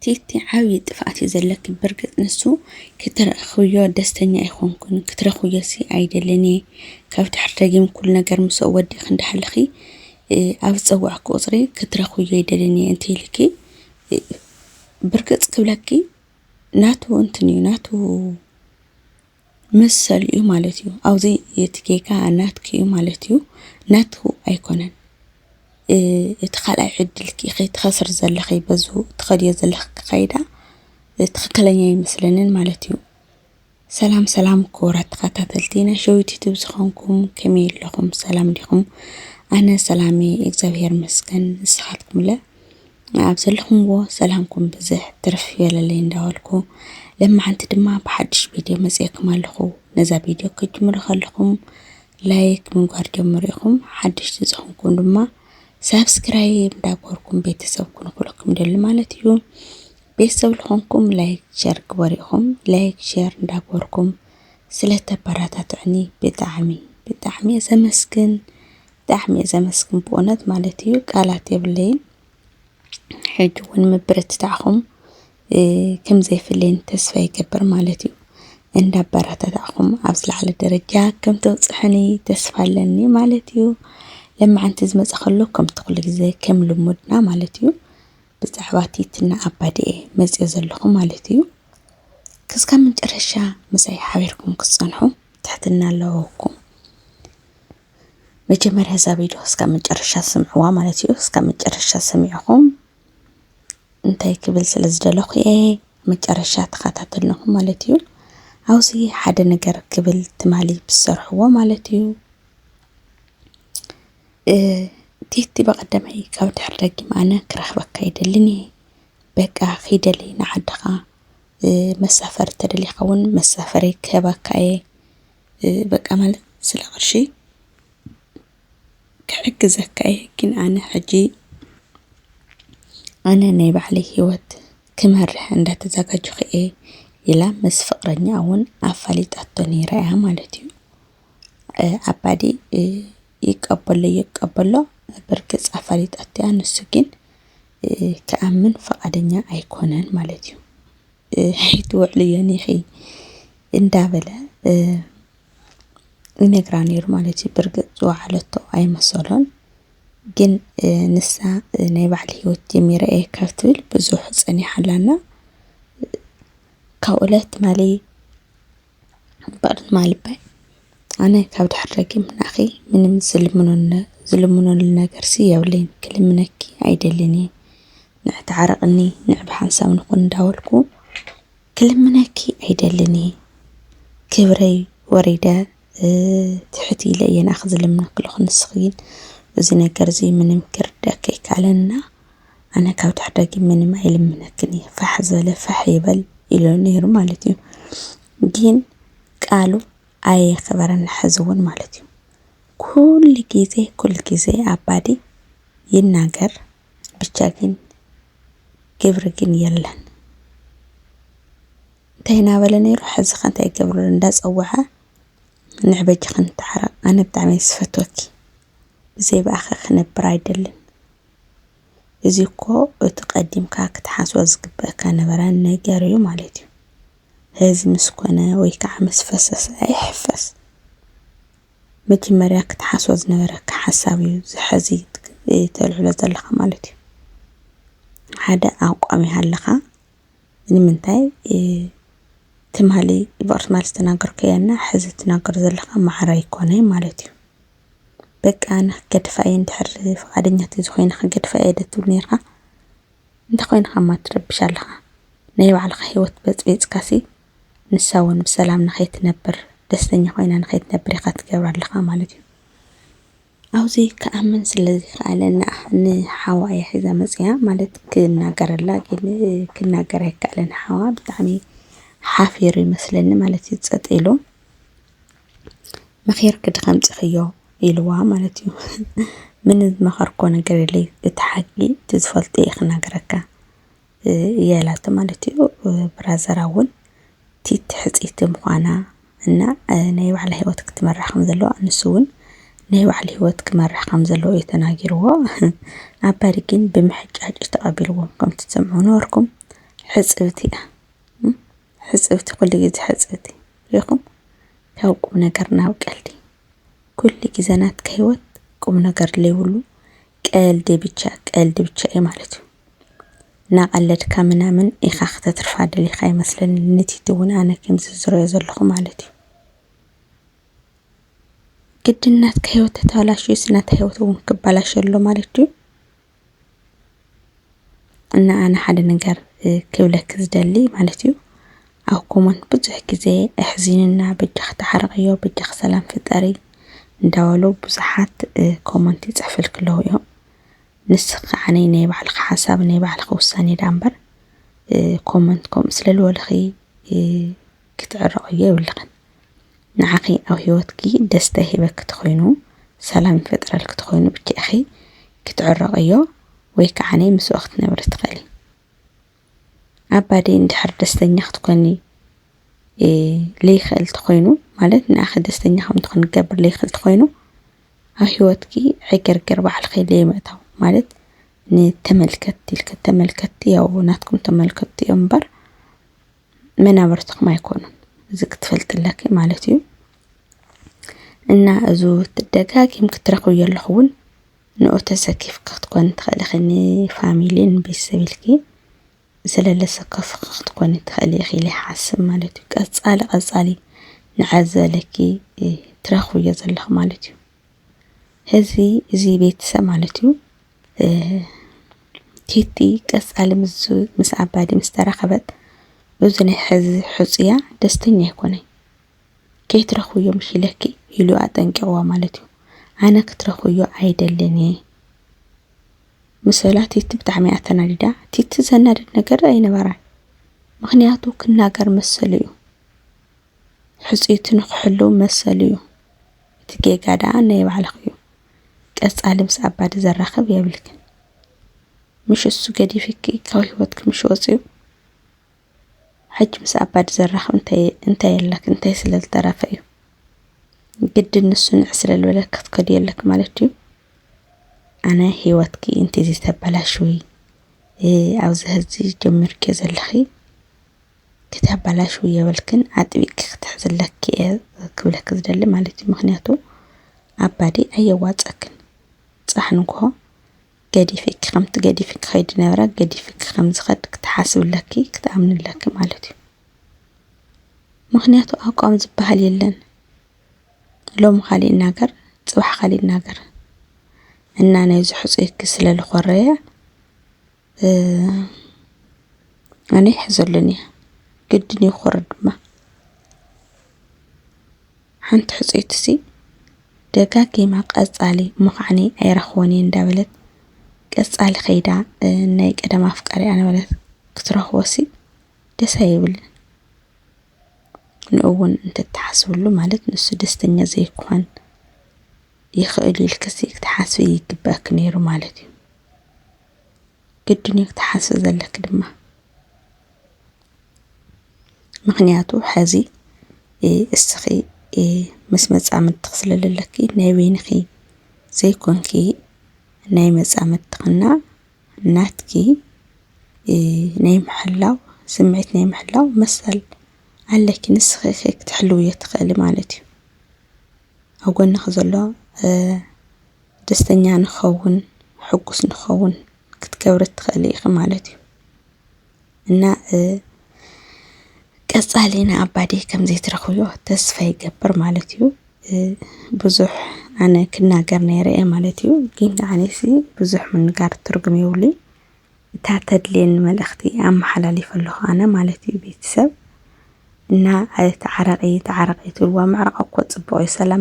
ቲቲ ዓብዪ ጥፍኣት እዩ ዘለኪ ብርግፅ ንሱ ክትረኽብዮ ደስተኛ ኣይኾንኩን ክትረኽብዮሲ ኣይደልን እየ ካብ ድሕሪ ደጊም ኩሉ ነገር ምስኦ ወዲእኺ እንዳሃለኺ ኣብ ዝፀዋዕኪ ቁፅሪ ክትረኽብዮ ኣይደልን እየ እንተይልኪ ብርግፅ ክብለኪ ናቱ እንትን እዩ ናቱ መሰል'ዩ ማለት እዩ። ኣብዚ እቲ ጌጋ ናትኪ'ዩ ማለት እዩ፣ ናቱ ኣይኮነን። እቲ ካልኣይ ዕድልኪ ኢኺ ትኸስሪ ዘለኺ በዚ ትኸድዮ ዘለኺ ኣካይዳ ትኽክለኛ ኣይመስለንን ማለት እዩ። ሰላም ሰላም ክቡራት ተኸታተልቲ ናይ ሸዊት ዩቱብ ዝኾንኩም ከመይ ኣለኹም ሰላም ዲኹም? ኣነ ሰላም እየ እግዚኣብሄር ይመስገን ንስኻትኩምለ? ኣብ ዘለኹምዎ ሰላምኩም ብዝሕ ትርፍ ይበለለይ እንዳበልኩ ለማዓንቲ ድማ ብሓድሽ ቪድዮ መፅኤኩም ኣለኹ ነዛ ቪድዮ ክትጅምሩ ከለኹም ላይክ ምግባር ጀምሩ ኢኹም ሓድሽቲ ዝኾንኩም ድማ ሳብስክራይብ እንዳገበርኩም ቤተሰብ ኩኑ ክብለኩም ደሊ ማለት እዩ ቤተሰብ ዝኾንኩም ላይክ ሸር ግበሩ ኢኹም ላይክ ሸር እንዳገበርኩም ስለተበረታትዕኒ ብጣዕሚ ብጣዕሚ እየ ዘመስግን ብጣዕሚ እየ ዘመስግን ብእውነት ማለት እዩ ቃላት የብለይን ሕጂ እውን ምብርትታዕኹም ከም ዘይፍለይን ተስፋ ይገብር ማለት እዩ እንዳበረታታዕኹም ኣብ ዝለዓለ ደረጃ ከም ተብፅሑኒ ተስፋ ኣለኒ ማለት እዩ ለማዓንቲ ዝመፀ ከሎ ከምቲ ኩሉ ግዜ ከም ልሙድና ማለት እዩ ብዛዕባ ቲትና ኣባዲኤ መፅኦ ዘለኹ ማለት እዩ ክስካብ መጨረሻ ምሳይ ሓቢርኩም ክትፀንሑ ትሕትና ኣለዎኩም መጀመርያ እዛ ቪድዮ እስካብ መጨረሻ ስምዕዋ ማለት እዩ። እስካብ መጨረሻ ሰሚዕኹም እንታይ ክብል ስለ ዝደለኹ እየ መጨረሻ ተኸታተልንኹም ማለት እዩ። ኣብዚ ሓደ ነገር ክብል ትማሊ ብዝሰርሕዎ ማለት እዩ። ቲቲ በቐደመይ ካብ ድሕሪ ደጊም ኣነ ክረኽበካ ይደልን እየ በቃ ኺደሊ ንዓድኻ መሳፈሪ ተደሊኻ እውን መሳፈሪ ክህበካ እየ በቃ ማለት ስለ ቅርሺ ክሕግዘካ እየ ግን ኣነ ሕጂ ኣነ ናይ ባዕለይ ሂወት ክመርሕ እንዳተዘጋጀኹ እየ ኢላ ምስ ፍቅረኛ እውን ኣፋሊጣቶ ነይራ እያ ማለት እዩ። ኣባዲ ይቀበሎ ይቀበሎ ብርግፅ ኣፋሊጣቶ እያ ንሱ ግን ክኣምን ፈቃደኛ ኣይኮነን ማለት እዩ። ኣይትውዕሊ እየን ኢኺ እንዳበለ ይነግራ ነይሩ ማለት እዩ። ብርግጽ ዝወዓለቶ ኣይመሰሎን፣ ግን ንሳ ናይ ባዕሊ ህይወት ጀሚረ እየ ካብ ትብል ብዙሕ ጸኒሓ ኣላና። ካብ እለት ማሊ ባእለት ማሊ እባይ ኣነ ካብ ድሕር ደጊም ንኣኺ ምንም ዝልምኖ ዝልምኖ ነገር የብለይን ክልምነኪ ኣይደልን እየ። ንዕ ተዓረቕኒ ንዕ ብሓንሳብ ንኹን እንዳበልኩ ክልምነኪ ኣይደልን እየ ክብረይ ወሪደ ትሕት ኢለ እየ ንኣኺ ዝልምነኪ ኣለኹ ንስኺ ግን እዚ ነገር እዚ ምንም ክርዳኪ ኣይከኣለና ኣነ ካብ ድሕደጊ ምንም ኣይልምነክን እየ ፋሕ ዝበለ ፋሕ ይበል ኢሉ ነይሩ ማለት እዩ ግን ቃሉ ኣየኸበረን ሕዚ እውን ማለት እዩ ኩሉ ግዜ ኩሉ ግዜ ኣባዲ ይናገር ብቻ ግን ግብሪ ግን የለን እንታይ እናበለ ነይሩ ሕዚ ከ እንታይ ይገብር ኣሎ እንዳፀወዐ ንሕ በጅኺ ንተዓረቕ ኣነ ብጣዕሚ እየ ዝፈትወኪ ብዘይ ብኣኺ ክነብር ኣይደልን እዚ እኮ እቲ ቀዲምካ ክትሓስቦ ዝግበአካ ነበረ ነገር እዩ ማለት እዩ ህዚ ምስ ኮነ ወይ ከዓ ምስ ፈሰሰ ኣይሕፈስ መጀመርያ ክትሓስቦ ዝነበረካ ሓሳብ እዩ እዚ ሐዚ ተልዕሎ ዘለኻ ማለት እዩ። ሓደ ኣቋም ይሃልኻ ንምንታይ ትማሊ ብቅርስ ማል ዝተናገርከዮ እና ሐዚ ትናገር ዘለኻ መዓረ ኣይኮነይ ማለት እዩ። በቃ ኣነ ክገድፋ እየ እንድሕር ፍቓደኛ ተዝኾይነ ክገድፋ እየ ዶ ትብል ኔርካ? እንታይ ኾይንኻ እማ ትረብሽ ኣለኻ? ናይ ባዕልኻ ሂወት በጽቢጽካሲ ንሳ እውን ብሰላም ንኸይትነብር፣ ደስተኛ ኾይና ንኸይትነብር ኢኻ ትገብራ ኣለኻ ማለት እዩ። ኣብዚ ክኣምን ስለ ዘይከኣለ ንሓዋ እያ ሒዛ መፅያ ማለት ክናገረላ ግን ክናገር ኣይከኣለን። ሓዋ ብጣዕሚ ሓፊሩ ይመስለኒ ማለት እዩ ፀጥ ኢሉ መኺርኪ ዶ ከምፅእኽዮ ኢልዋ ማለት እዩ። ምንም ዝመኸርክዎ ነገር የለይ እቲ ሓቂ እቲ ዝፈልጦ እየ ክነግረካ። የላተ ማለት እዩ ብራዘራ እውን ቲት ሕጺቲ ምዃና እና ናይ ባዕላ ሕይወት ክትመራሕ ከም ዘለዋ ንሱውን ናይ ባዕል ሕይወት ክመራሕ ከም ዘለዉ እዩ ተናጊርዎ ኣባዲ ግን ብምሕጫጭ ተቐቢልዎም ከምቲ ትሰምዑ ነበርኩም ሕጽብቲ እያ ሕጽብቲ ዂሉ ጊዜ ሕጽብቲ ሪኢኹም ካብ ቁም ነገር ናብ ቀልዲ። ኩሉ ግዘ ናትካ ሂወት ቁም ነገር ዘይብሉ ቀልዲ ብቻ ቀልዲ ብቻ እዩ ማለት እዩ። እናቀለድካ ምናምን ኢካ ክተትርፋ ደሊካ ኣይመስለንን ንቲቲ እውን ኣነ ከምዚ ዝረኦ ዘለኩ ማለት እዩ። ግድን ናትካ ሂወት ተተባላሽዩስ ናተይ ሂወት እውን ክባላሾ ኣሎ ማለት ድዩ? እና ኣነ ሓደ ነገር ክብለኪ ዝደሊ ማለት እዩ ኣብ ኮሞንት ብዙሕ ግዘ ኣሕዚኑና በጃኺ ተዓረቕዮ በጃኺ ሰላም ፍጠሪ እንዳበሉ ብዙሓት ኮሞንት ይፅሕፍልኪ ኣለው እዮም። ንስኺ ከዓ ናይ ባዕልኺ ሓሳብ ናይ ባዕልኺ ውሳነ ደኣ እምበር ኮሞንት ከምኡ ስለዝበሉኺ ክትዕረቕዮ የብልኽን ንዓኺ ኣብ ሂወትኪ ደስታ ይህበኪ ተኾይኑ ሰላም ይፈጥረልኪ ተኾይኑ ብቻ ኢኺ ክትዕረቕዮ ወይ ከዓኒ ምስኡ ክትነብሪ ትኽእሊ ኣባዲ እንድሕር ደስተኛ ክትኮኒ ለይኽእል ተኾይኑ ማለት ንኣኺ ደስተኛ ከም ትኾን ክገብር ለይኽእል ተኾይኑ ኣብ ሂወትኪ ዕግርግር ባዕልኺ ለይምእታው ማለት ንተመልከትቲ ኢልኪ ተመልከትቲ ያው ናትኩም ተመልከትቲ እዮም እምበር መናብርትኹም ኣይኮኑን እዚ ክትፈልጥ ኣለኪ ማለት እዩ እና እዙ ትደጋጊም ክትረኽብዮ ኣለኹ እውን ንኡ ተሰኪፍ ክትኮን ትኸእልኺኒ ፋሚሊን ቤሰብልኪ ስለለሰከፍ ክትኮኒ ትኸእሊ ኺኢለ ሓስብ ማለት እዩ ቀጻሊ ቐጻሊ ንዕዘለኪ ትረኽብዮ ዘለኹ ማለት እዩ ህዝቢ እዚ ቤተሰብ ማለት እዩ ቲቲ ቀፃሊ ምስ ኣባዲ ምስ ተራኸበት እዚ ናይ ሕዚ ሕፁያ ደስተኛ ኣይኮነይ ከይትረኽብዮ ምሽ ኢለኪ ኢሉ ኣጠንቂቕዋ ማለት እዩ ኣነ ክትረኽብዮ ኣይደልን እየ ምስ በላ ቲቲ ብጣዕሚ እያ ተናዲዳ ቲቲ ዘናድድ ነገር ኣይነበራን ምክንያቱ ክናገር መሰሉ እዩ ሕፅይቱ ንክሕልው መሰሉ እዩ እቲ ጌጋ ደኣ ናይ ባዕልኺ'ዩ ቀጻሊ ምስ ኣባዲ ዘራኽብ የብልክን ምሽ እሱ ገዲፊኪ ካብ ሂወትኪ ምሽ ወጽዩ ሕጂ ምስ ኣባዲ ዘራኽብ እንታይ እንታይ ኣለኪ እንታይ ስለ ዝተረፈ እዩ ግድን ንሱ ንዕ ስለ ዝበለኪ ክትከድዮ ኣለኪ ማለት እዩ ኣነ ሂወትኪ እንተዘይ ተበላሽዊ ኣብዚ ሕዚ ጀሚርኪዮ ዘለኺ ከተባላሽዊ የብልክን ኣጥቢቅኪ ክትሕዝለኪ እየ ክብለኪ ዝደሊ ማለት እዩ ምክንያቱ ኣባዲ ኣየዋፀክን ፅባሕ ንግሆ ገዲፊኪ ከምቲ ገዲፊኪ ከይድ ዝነበረ ገዲፊኪ ከም ዝከድ ክትሓስብለኪ ክትኣምንለኪ ማለት እዩ ምክንያቱ ኣቋም ዝበሃል የለን ሎም ካሊእ ይናገር ፅባሕ ካሊእ ይናገር እና ናይዚ ሕፁይኪ ስለ ልኮረየ ኣነ ይሕዘለኒ እየ ግድን እዩ ክወርድ ድማ ሓንቲ ሕፅይቲ ሲ ደጋጊማ ቀፃሊ ምዃዕኒ ኣይረኽቦን እየ እንዳበለት ቀፃሊ ከይዳ ናይ ቀደም ኣፍቃሪኣ ነበረት ክትረኽቦ ሲ ደስ ኣይብልን ንእውን እንተተሓስብሉ ማለት ንሱ ደስተኛ ዘይኮን ይኽእል ኢልክሲ ክትሓስቢ ይግበኣክ ነይሩ ማለት እዩ ግድን እዩ ክትሓስቢ ዘለኪ ድማ ምኽንያቱ ሐዚ እስኺ ምስ መፃምድትኺ ስለ ዘለኪ ናይ በይንኺ ዘይኮንኪ ናይ መፃምድትኽና ናትኪ ናይ ምሕላው ስምዒት ናይ ምሕላው መሰል ኣለኪ ንስኺ ኢኺ ክትሕልውዮ ትኽእሊ ማለት እዩ። ኣብ ጎንኺ ዘሎ ደስተኛ ንኸውን ሕጉስ ንኸውን ክትገብሪ ትኸእሊ ኢኺ ማለት እዩ። እና ቀጻሊ ንኣባዲ ከም ዘይትረኽብዮ ተስፋ ይገብር ማለት እዩ። ብዙሕ ኣነ ክናገር ነይረ እየ ማለት እዩ። ግን ንዓነይሲ ብዙሕ ምንጋር ትርጉም የብሉይ። እታ ተድልየኒ መልእኽቲ ኣመሓላሊፈ ኣለኹ ኣነ ማለት እዩ። ቤተሰብ እና ተዓረቒ ተዓረቒ ትብልዋ ምዕራቕ እኮ ጽቡቕ እዩ ሰላም